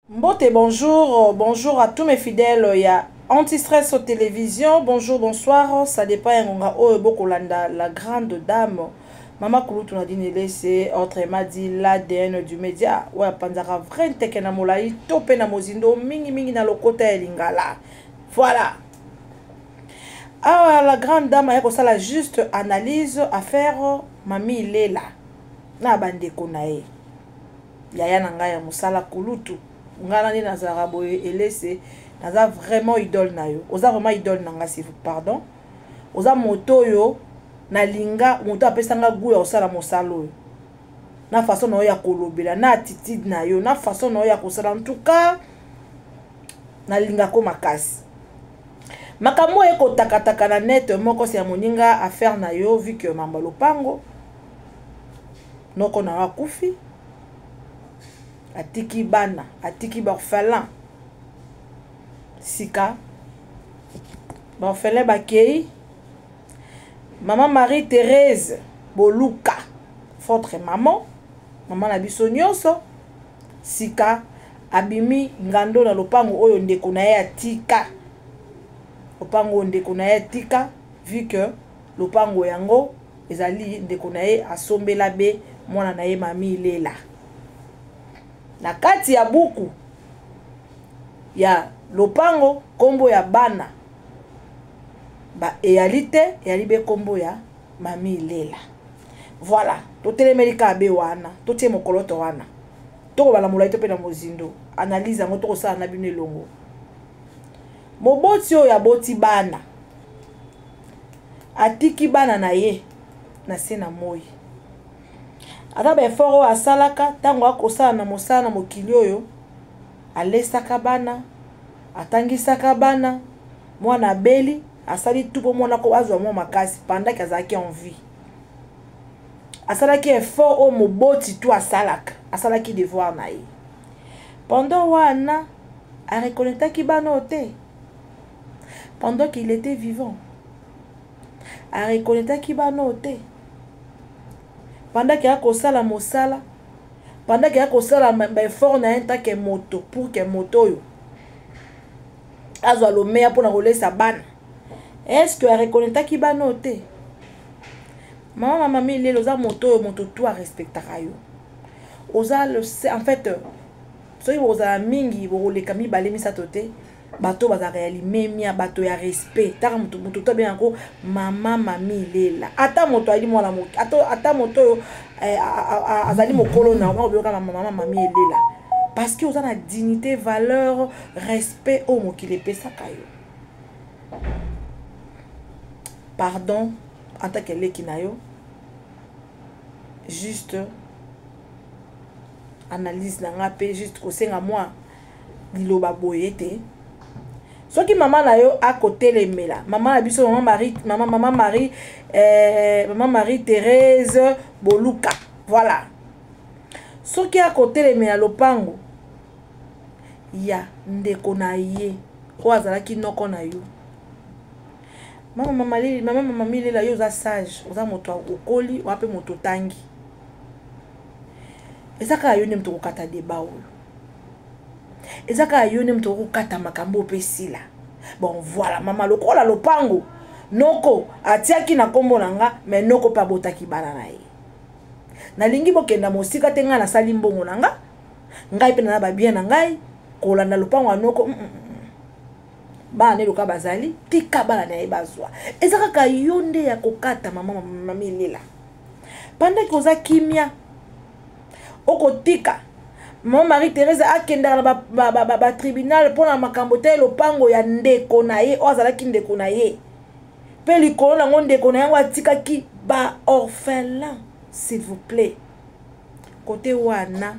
Mbote, bonjour, bonjour à tous mes fidèles ya Antistress au télévision. Bonjour, bonsoir, ça dépend ya ngonga oyo bokolanda la grande dame Mama Kulutu Nadine Elese, autrement dit l'ADN du média, oyo apanzaka vrai nteke na molai to mpe na mozindo mingi mingi na lokota ya lingala. Voilà. Awa la grande dame aye kosala juste analyse affaire Mami Lela na bandeko na ye. yaya na ngai ya mosala kulutu ngai nani nazalaka boye elese naza vraiment idole na yo oza vraiment idole na ngai sivu pardon oza moto oyo nalinga moto apesa ngai gout ya kosala mosala oyo na façon na yo ya kolobela na attitude na yo na façon na yo ya kosala en tout cas nalingako makasi makambo oyo ekotakataka na net moko se ya moninga affaire na yo vike mambo ya lopango noko na yo akufi atiki bana atiki baorphelin sika baorphelin bakei mama marie therese boluka votre maman mama na biso nyonso sika abimi ngando na lopango oyo ndeko na ye atika lopango oyo ndeko na ye atika vu que Lopango yango ezali ndeko na ye asombela be mwana na ye mami Lela. Na kati ya buku ya lopango kombo ya bana ba eyali te eyali be kombo ya mami Lela. Voilà, totelemeli kaka be wana, totie mokoloto wana. Tokobala molai to mpe na mozindo. Analyse yango tokosala na bino elongo. Moboti oyo aboti bana atiki bana na ye na se na moi ata baefort oyo asalaka ntango akosala na mosala na mokili oyo alesaka bana atangisaka bana mwana abeli asali tu mpo mwana ko azwa mwa makasi pandaki azalaki en vie asalaki effort oyo moboti tu asalaka asalaki devoir na ye pendant wana areconnectaki bana oyo te pendant qu'il etait vivant a reconnaitaki bana oyo te pendant ke akosala mosala pendant ke akosala baeffort na ye ntake moto pour ke moto oyo azwa lomeya mpona kolesa bana est ce que areconnaitaki bana oyo te mama mama milele oza moto oyo moto tu arespectaka yo oza le en fait soki bokozala mingi bokoleka mibale misato te bato bazalaka ya limemia bato ya respect taka moto moto to abenga yango mama mami lela ata moto ayali mwana moke ata moto oyo eh, azali mokolo na yango okoyoka mama mami elela parce que oza na dignité valeur respect oyo mokili epesaka yo pardon en tant que leki na yo juste analyse na nga mpe juste kosenga mwa liloba boye ete soki mama na yo akotelemela mama na biso mama marie mama, mama marie eh, mama marie therese boluka voilà soki akotelemela lopango ya ndeko na ye oyo azalaki noko na yo mama mama lili mama mama milela yo oza sage oza moto okoli oa mpe moto otangi eza kaka yo nde moto okokata deba oyo eza kaka yo nde moto okokata makambo mpe esila bon voilà mama lokola lopango noko atiaki na nkombo na nga me noko mpe abotaki bana na ye nalingi bokenda mosika te ngai nasali mbongo na nga ngai mpe na babien na ngai kolanda lopango ya noko mm -mm. mm. bana na eloka bazali tika bana na ye bazwa eza kaka yo nde ya kokata mama mamilela pandaki oza kimia okotika mama marie therese akendaka na batribunal ba, ba, ba mpo na makambo te lopango ya ndeko na ye oyo azalaki ndeko na ye mpe likolo nango ndeko na yango atikaki baorphelin s'il vous plaît kote wana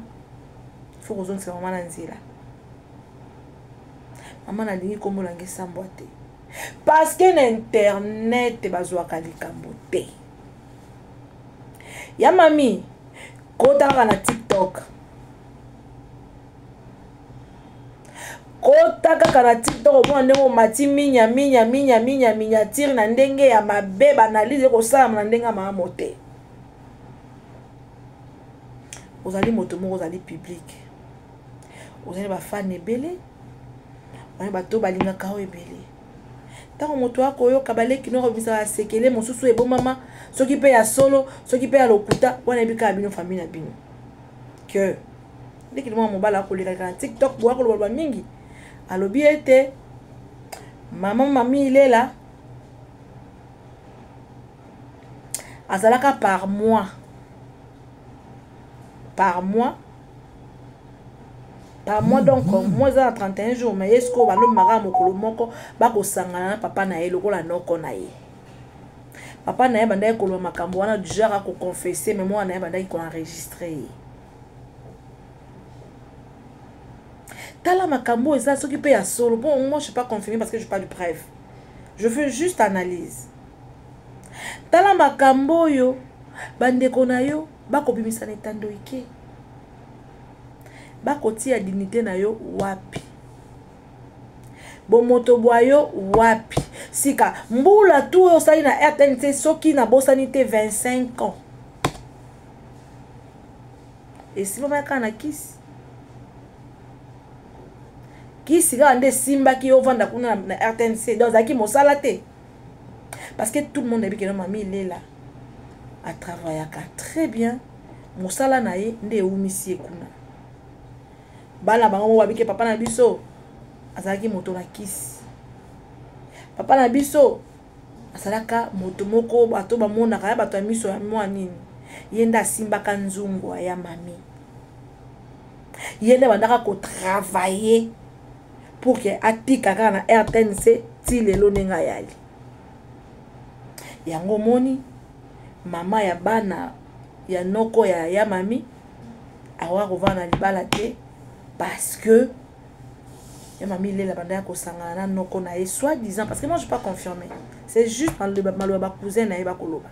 fo kozongisa mama na nzela mama nalingi kombolanga esambwa te parce que na internet bazwaka likambo te ya mami kota kaka na tiktok kota kaka na tiktok omona ndenge omati minya minya minya minya miniatire na ndenge ya mabe baanalyse ekosalama na ndenge ya malamu te ozali moto moko ozali publike ozali bafane ebele ozali bato balingaka yo ebele ntango moto akoyoka baleki noko bisa ba sekele mosusu ebombama soki mpe ya solo soki mpe ya lokuta wana yebi kaka bino famille na bino que ndekili mwana mobali akolekaleka na tiktok boya kolobaloba mingi alobi ete mama mami ilela azalaka par mois par mois par mois donc mois eza na 31 jours mais ye sikoyo balomemaka ya mokolo moko bakosangana na papa na ye lokola noko na ye papa na ye bandaki koloba makambo wana du genre akoconfesse mais mwana na ye bandaki koenregistre ye tala makambo oyo eza soki mpe ya solo mpo moi je pas confirme parce que je pas de preuve je fais juste analyse tala makambo oyo bandeko na yo bakobimisa na etando ike bakotia dignité na yo wapi bomoto bwa yo wapi sika mbula tu oyo osali na rtnc soki nabosani te 25 ans esimbamaki kaka na kisi kisi kaka nde esimbaki ovanda kuna na rtnc donc azalaki mosala te parce que tout le monde ayebi keno mami lela atravayaka très bien mosala na ye nde ewumisi ye kuna bana bango moko babike papa na biso azalaki moto na kisi papa na biso azalaka moto moko bato bamonaka ya bato ya miso ya mwa nini ye nde asimbaka nzungu ya mami ye nde abandaka kotravaye pour ke atika kaka na rtnc ti lelo ndenge ayali yango omoni mama ya bana ya noko ya ya mami akoka kovanda na libala te parce que ya mami lela banda ya kosangana na noko na ye soit disant parce que moi je pas confirmé c'est juste maloba bacousin na ye bakoloba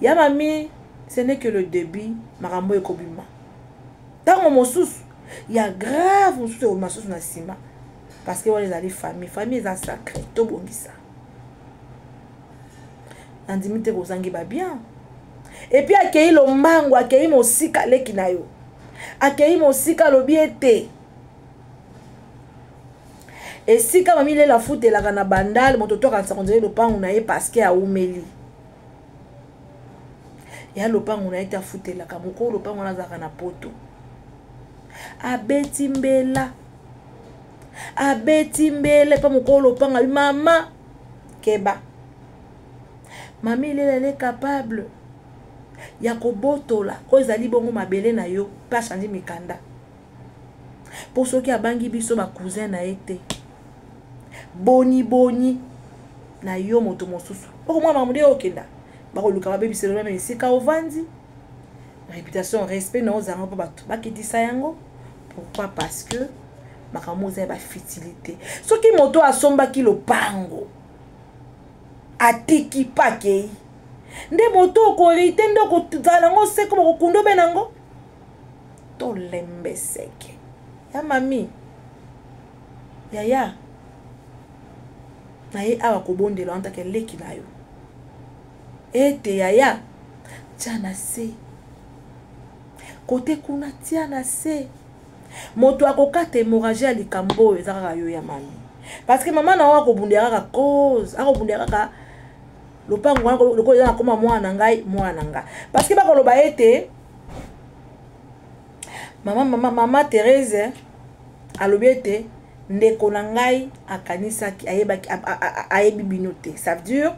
ya mami ce n'est que le début makambo ekobima ntango mosusu ya grave mosusu ekomema mosusu na nsima parce que wana ezali famille famille eza sacré tobongisa nandimi te kozangi babien epuis akei lombango akei mosika leki na yo akei mosika alobi ete esika mami lela futa elaka na bandal moto to akanisa konzela lopango na ye parceke aumeli ya lopango na ye te afutelaka mokolo lopango wana azalaka na poto abeti mbela abeti mbele mpe mokolo lopanga bi mama keba mami lela ele capable ya kobotola oyo ezali bongo mabele na yo mpe achange mikanda mpo soki abangi biso ba cousin na ye te boni boni na yo moto mosusu okomona makambo nde okenda bakoluka babebisa elona meme esika ovandi réputation respect na ozanga mpo bato bakitisa yango pourquoi parce que makambo oza ya bafitilité soki moto asombaki lopango atiki pakei nde moto okorite nde okozala yango seko bakokunda obe na yango tolembe seke ya mami yaya naye awa kobondela wana take leki na yo ete yaya tya na se kote kuna tya na se moto akokata hémorragie ya likambo oyo eza kaka yo ya mami parce que mama na yo akobundela kaka cause akobundela kaka lopango wana lokola eza nakoma mwana na ngai mwana na ngai parceke bakoloba ete mama mama mama therese alobi ete ndeko na ngai akanisaki ayebaki ayebi bino te ça veut dire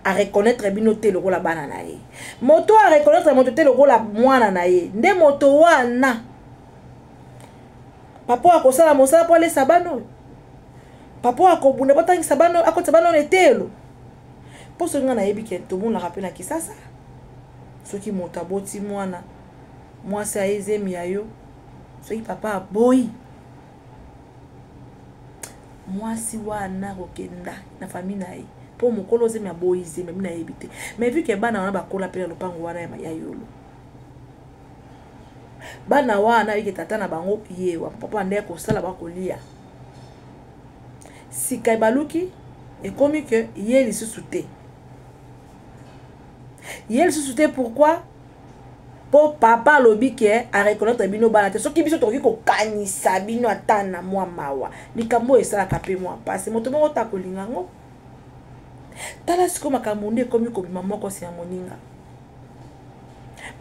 areconnaitre bino te lokola bana na ye moto oyo areconnaitre moto te lokola mwana na ye nde moto wana papa akosala mosala mpo alesa bana oyo papa oyo akobunda botangisa bana oyo akotisa bana oyo na eteyelo mpo soki ngai nayebi ke tomonaka mpe na kisasa soki moto aboti mwana mwasi aye zemi ya yo soki papa aboyi mwasi wana kokenda na fami na ye mpo mokolo zemi aboyi zemi abi nayebi te mais vu ke bana wana bakola mpe na lopango wana ya yolo bana wana ayike tata na bango ye papa nde akosala bakolia sika ebaluki ekomi ke ye lisusu te ye lisusu te pourquoi mpo papa alobi ke areconnaitre bino bana te soki biso tokoki kokanisa bino ata na mwa mawa likambo oyo esalaka mpe mwa mpasi moto moko ta kolinga yango tala sikoyo makambo nde ekomi kobima moko se ya moninga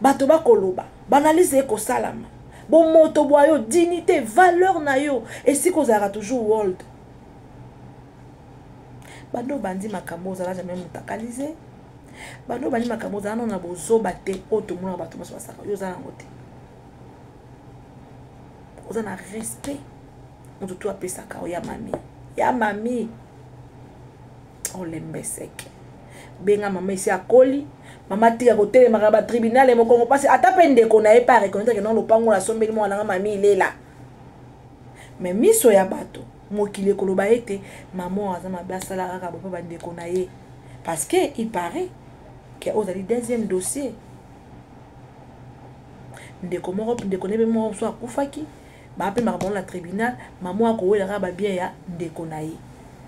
bato bakoloba baanalyse ekosalama bomoto bwa yo dignité valeur na yo esika ozalaka toujours world bando obandi makambo ozala jamai motakalise bando obandi makambo ozala nano na bozoba te oyo tomona bato nyonso basaka yo oza nango te oza na respect moto tu apesaka yo ya mami ya mami olembeseke benga mama esi akoli mama tika kotelemaka ba tribunal ya mokongo mpasi ata mpe ndeko na ye mpe areconnaitre ke non lopango oyo asombeli mwana nga mami ilela me miso ya bato mokili ekoloba ete mama oyo aza mabe asala kaka bope bandeko na ye parce que il paraît ke ozali deuxième dossier ndeko moko ndeko na ye mpe moko mosusu akufaki bapemaka bango na tribunal mama oyo akowela kaka babien ya ndeko na ye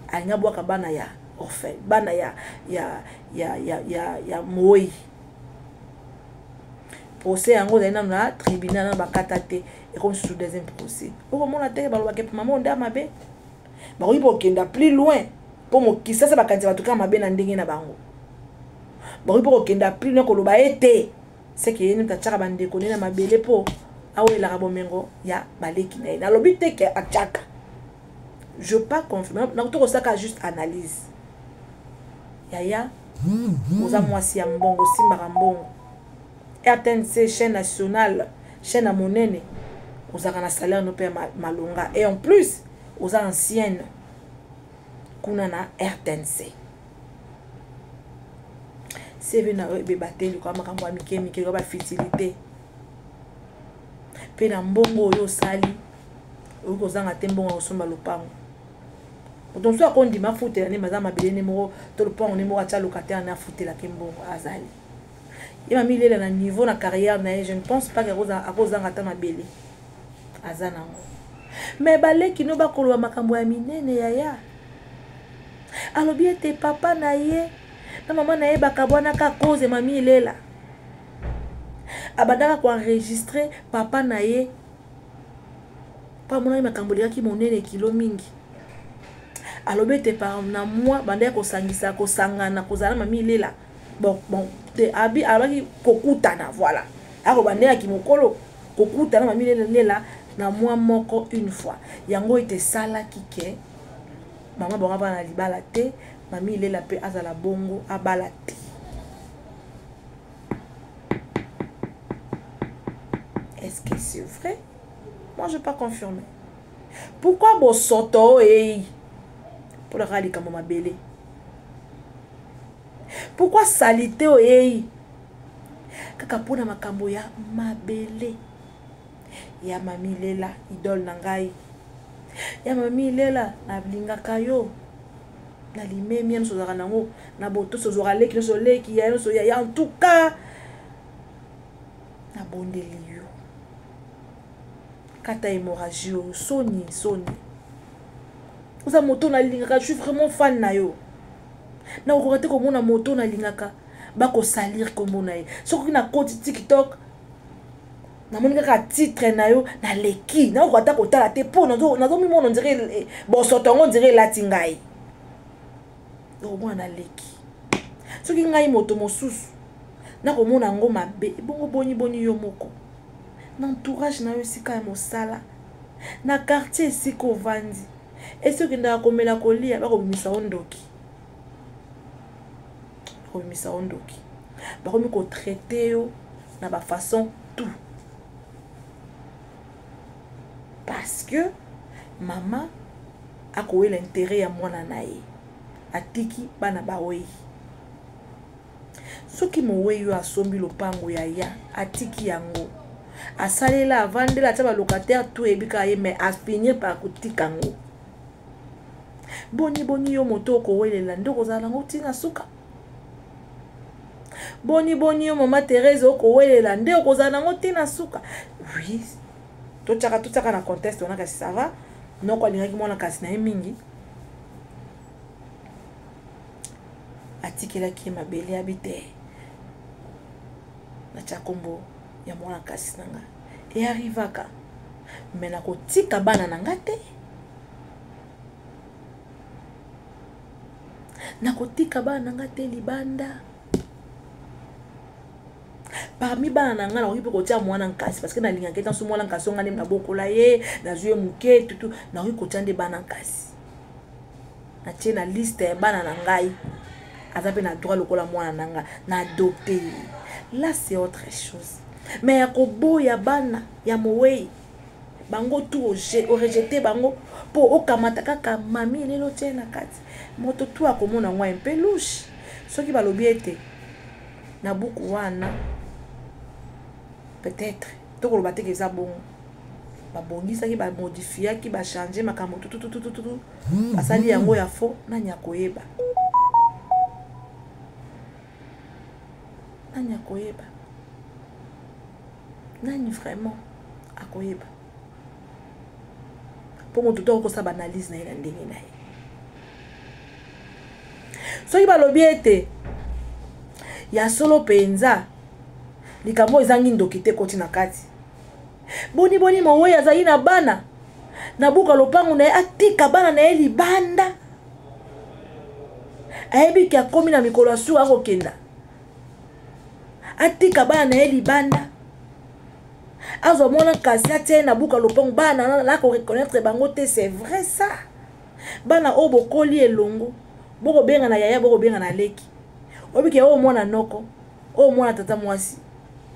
alingi abwaka bana ya orphe bana ya, ya, ya, ya, ya, ya moyi procès yango ozali nano na tribunal nano bakata te ekomi susu deuxième procès okomona te balobaka epe mama onde ya mabe bakoki kokenda plus loin mpo mokisasa bakanisa bato kaka mabe na ndenge na bango bakoki mpo kokenda plus loin koloba ete seke ye nde atyaka bandeko ne na mabele mpo awelaka bomengo ya baleki na ye nalobi te ke atyaka je pas confirme nakuti kosaka juste analyse yaya oza mwasi ya mbongo osimbaka mbongo rtnc chaîne nationale chaîne ya monene ozalaka na salaire no mpe ya malonga et en plus oza ancienne kuna na rtnc seve na yo ebeba te likoya makambo ya mike mike likoya bafitilite mpe na mbongo oyo osali oyoki kozanga te mbongo ya kosomba lopango moto mosusu akondima afutela nde maza mabele nde moko to lopango nde moko atya lokatele nde afutelaki mbongo azali ye mamilela na niveau na carrière na ye je ne pense pas akozanga ata mabele aza nango me baleki no bakoloba makambo ya minene yaya alobi ete papa na ye na mama na ye bakabwanaka cause mami ilela abandaka koenregistre papa na ye mpo amonaki makambo elekaki monene kilo mingi alobi ete par na mwa bandaki kosangisa kosangana kozala mami ilela bon bon te abi alobaki kokutana voilà akoba nde ya kimokolo kokutana mami lelela na mwa moko une fois yango ete esalaki ke mama bango abala na libala te mami ilela mpe azala bongo abala te est-ce que c'est vrai moi je pas confirme pourquoi bosoto oyo eyi mpo nakaka likambo mabele pourkui salite oyo eyei kaka mpona makambo ya mabele ya mamilela idole na ngai ya mamilela nalingaka yo na limemi ya nyonso ozalaka nango na botosi ozwaka leki nyonso oleki ya nyonso yaya en tout cas nabondeli yo kata hémorragie oyo soni soni oza moto nalingaka je suis vraiment fan na yo nakokoka te komona moto nalingaka bakosalire nkombo na ye soki nakoti tiktok namoni kaka titre na yo naleki nakoka ata kotala te mpo nazomimona ondire eh, bosoto yango ondire elati ngai okomona naleki soki ngai moto mosusu nakomona yango mabe ebongo boni boni yo moko na entourage na yo esika ya mosala na quartier esika ovandi esi okendaka komela kolia bakobimisa o ndoki bakobimisa o ndoki bakomi kotraite yo na bafaçon tout parce que mama akowela intérêt ya mwana na ye atiki bana bawei soki mowei oyo asombi lopango ya ya atiki yango asalela avandela atya balocataire to oyebi kaka ye mai afinir par kotika yango boni boni yo moto okowelela nde okozala nango ntina suka boni boni yo mama therese okowelela nde okozala nango te na suka oui totyaka totyaka na conteste wana kasi sava noko alingaki mwana kasi na ye mingi atikelaki ye mabele ya bite natya nkombo ya mwana kasi na nga earrivaka me nakotika bana na nga te nakotika bana na nga te libanda parmi bana na ngai nakoki mpe kotia mwana nkasi parce que nalingaka ete nso mwana nkasi onga nde nabokola ye nazwi ye moke tutu nakoki kotia nde bana nkasi natie na liste ya bana na ngai aza mpe na droit lokola mwana na ngai na adopte ye là c'est autre chose mais ya koboya bana ya mowei bango tu orejete bango mpo okamata kaka mami lelo tie na kati moto tu akomona yango mpe lushe soki balobi ete na buku wana peut-être tokoloba teke eza bongo babongisaki bamodifiaki bachange makambo tutututututu basali yango ya fo nani akoyeba nani akoyeba nani vraiment akoyeba mpo moto to akosa baanalyse na ye na ndenge na ye soki balobi ete ya solo mpenza likambo oyo ezangi ndoki te koti na kati boni boni mowei azali na bana na buka lopango na ye atika bana na ye libanda ayebi ke akomi na mikolo ya suka akokenda atika bana na ye libanda azwa mwana kasi atia ye na buka lopango bana na koreconnaitre bango te c'est vrai ça bana oyo bokoli elongo bokobenga na yaya bokobenga na leki obike oyo mwana noko oyo mwana tata mwasi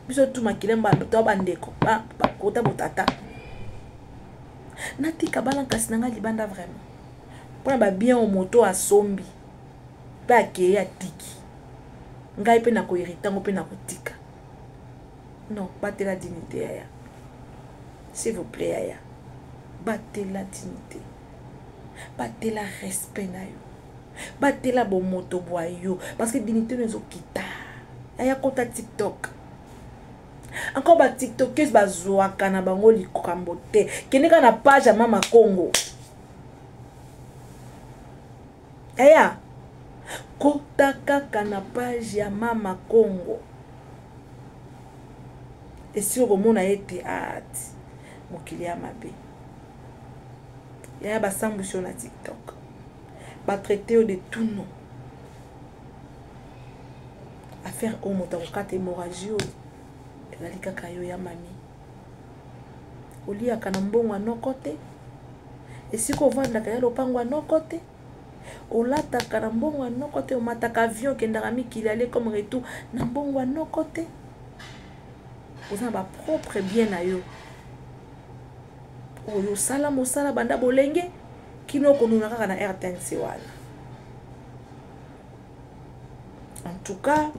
biso tu makila to bandeko bakota botata natika bana kasi na ngai libanda vraiment mpona babien oyo moto asombi mpe akei atiki ngai mpe nakoherita yango mpe nakotika non batela dignité yaya s'il vous plaît yaya batela dignité batela respect na yo batela bomoto bwa yo parce que dignité no ezokita yaya kota tiktok encore ba tiktokes bazwaka na bango likambo te kende kaka na page ya mama congo eya kota kaka na page ya mama congo esi okomona ye te ati ah, mokili ya mabe yaya basambwisi yo na tiktok batraite yo de tout nom affaire oyo moto akokata hémorragie oyo ezali kaka yo ya mami oliyaka na mbongo ya noko te esika ovandaka ya lopango ya noko te olataka na mbongo ya noko te omataka avion okendaka mikili ale comme retour na mbongo ya noko te oza na bapropre bien na yo oyo osala mosala banda bolenge kino okonuna kaka na rtnc wana en tout cas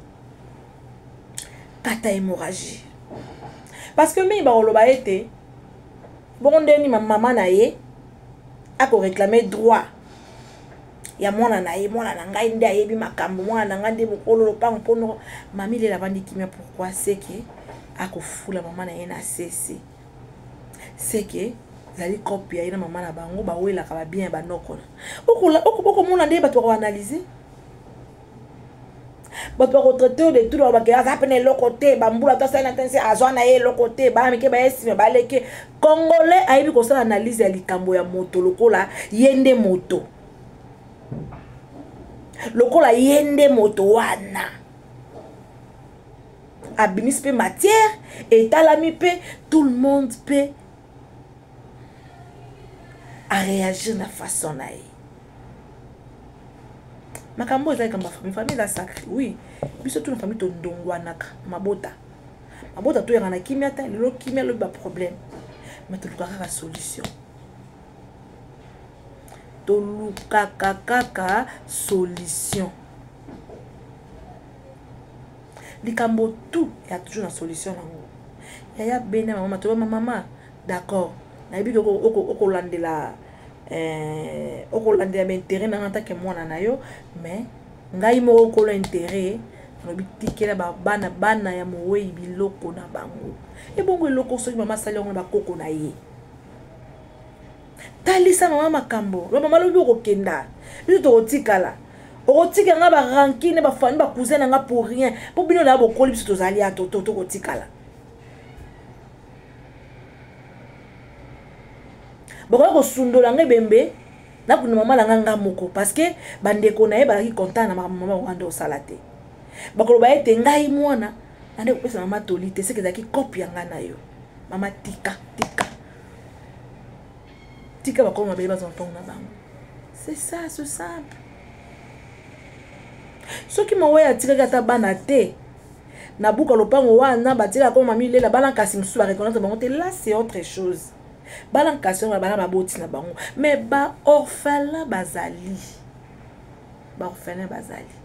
kata hémorragie parce que mingi bakoloba ete bongo nde nini mama na ye akoreklame droit ya mwana na ye mwana na ngai nde ayebi makambo mwana na ngai nde mokolo lopango mpono mami lela avandi kimia pourkui seke akofula mama na ye na sese seke ezali cope ya ye na mama na bango bawelaka babien ya banokona okomona nde bato bakoanalyse bato bakotraite yo de tout balobake aza mpe na eloko te bambula ata asali na tense azwa na ye eloko te bana mike baye nsima baleke congolais ayebi kosala analyse ya likambo ya moto lokola ye nde moto lokola ye nde moto wana abimisi mpe matière etalami mpe tout le monde mpe aréagir na façon na ye makambo eza likambo famille famille eza sacre oui biso tuna famille tondongwanaka mabota mabota toyaka na kimia te lelo kimia lobi baproblème mais tolukaka kaka solution tolukaka kaka solution likambo tout ya toujours na solution nango yaya bene mama toyama mama D'accord. Nayebi que okolandela eh, okolandela bainteret nanga ntake mwana na yo mais ngai moko nkolo interet alobi tikela bana bana ya mowei biloko na bango ebongo eloko soki mama asali yango na bakoko na ye talisa mama makambo lo mama lobi okokenda biso tokotikala okotika nga barankine bafani bacousin na nga pour rien mpo bino na bokoli biso tozali ya tokotikala bakoki kosundola ngai bembe nakunda mama na ngai ngai moko parce que bandeko na ye bazalaki contant na makambo mama wana nde osala te bakoloba ete ngai mwana nande kopesa mama toli te seke ezalaki kope ya ngai na yo mama tika tika tika bakolo mabele bazwa ntongo na bango c'est ça ce simple soki mawa atikaki ata bana te na buka lopango wana batiela koma mami lela bana kasi mosusu bareconnaitre bango te là c'est autre chose bana nkasi yango bana baboti na bango mais baorphelin bazali baorphelin bazali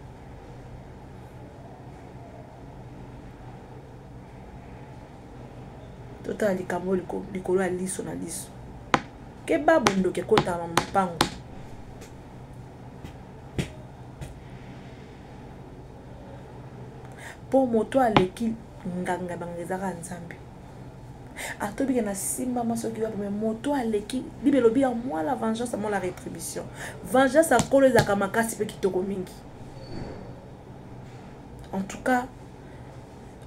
totala likambo likolo ya liso na liso keba bondoki ekotama mopango mpo moto aleki nganga banganga ezaka nzambe atobika na simba mwasi oki wapi me moto aleki bible elobi ya mwa la vengeance mwa la rétribution vengeance ya nkolo ezalaka makasi mpe kitoko mingi en tout cas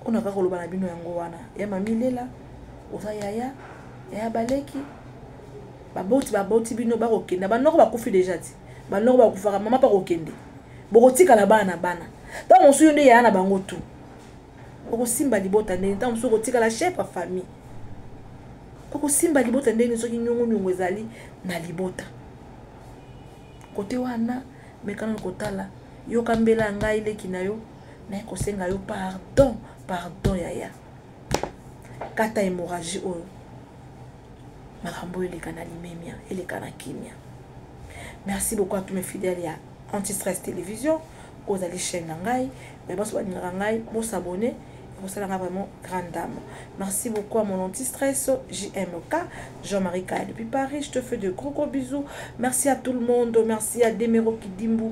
oyo nakaka koloba na bino yango wana ya mamilela oza yaya yaya baleki baboti baboti bino bakokenda banoko bakufi deja ti banoko bakufaka mama pa kokende bokotikala bana na bana ntango mosusu yo nde yaya na bango tu okosimba libota ndeni ntango mosusu okotikala chef ya famille okosimba libota ndeni soki nyongoniongo ezali na libota kote wana mekana na kotala yoka mbela ya ngai leki na yo naye kosenga yo pardon pardon yaya kata hémorragie oyo makambo oyo eleka na limemia eleka na kimia merci beaucoup à tous mes fidèles ya antistress télévision oyo ozali chaîne na ngai baye banso balingaka ngai bosabone ekosala ngai vraiment grande dame merci beaucoup à mon antistress jmk jean-marie kaya depuis paris je te fais de gros gros bisous merci à tout le monde merci à demero kidimbu